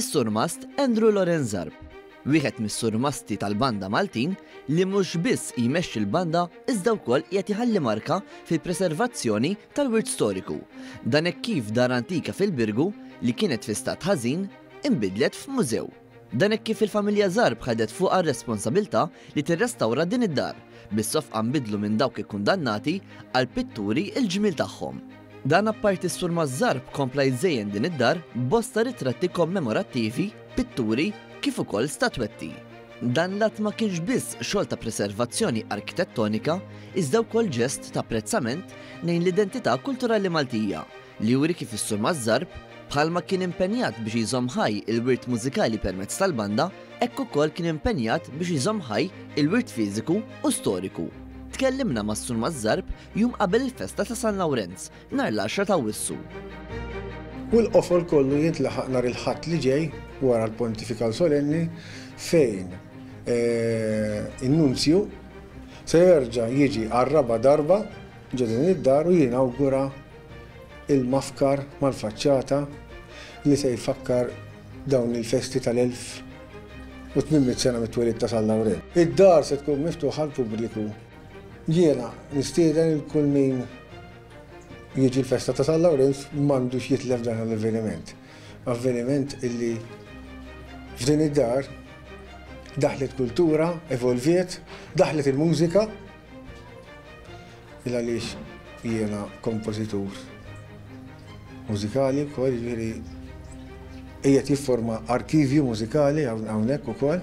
Is-surmast Andrew Lorenzarb, wieħed mis-surmasti tal-banda Maltin li mhux biss jmexxi l-banda iżda wkoll qiegħed iħalli marka fil-preservazzjoni tal-wirt storiku. Dan hekk kif dar antika fil-Birgu li kienet fi stat ħażin inbidlet f'mużew. Dan hekk kif il-familja Zarb ħadet fuqha r-responsabilità li tirrestawra din id-dar, bis-sofqa nbiddlu minn dawk ikkundannati għal pitturi l-ġmiel tagħhom. Dan apparti s-Sur Mazzarb kompla jżejjen din id-dar b'bosta ritratti kommemorattivi, pitturi kif ukoll statwetti. Dan l-att ma kienx biss xogħol ta' preservazzjoni arkitettonika iżda wkoll ġest t'apprezzament lejn l-identità kulturali Maltija, li juri kif is-Sur Mazzarb, bħalma kien impenjat biex jżomm ħaj il-wirt mużikali permezz tal-banda, hekk ukoll kien impenjat biex jżomm ħaj il-wirt fiżiku u storiku. Tkellimna mas-Sur Mazzarb jum qabel il-festa ta' San Lawrenz, nhar l-għaxra ta' Awwissu. U l-qofol kollu jintlaħaq nhar il-Ħadd li ġej wara l-Pontifikal Solenni fejn in-Nunzju se jerġa' jiġi għar-raba' darba ġo din id-dar u jinawgura Il-mafkar mal-faċċata li se jfakkar dawn il-festi tal-1800 sena mit-twelid ta' San Lawrenz. Id-dar se tkun miftuħa għall-pubbliku. Jiena nistieden lil kull min jiġi l-festa ta' San Lawrenz m'għandux jitlef dan l-avveniment. Avveniment illi f'din id-dar daħlet kultura, evolviet, daħlet il-mużika, Il għaliex jiena kompożitur mużikali wkoll, jiġifieri qiegħed jifforma arkivju mużikali hawnhekk ukoll.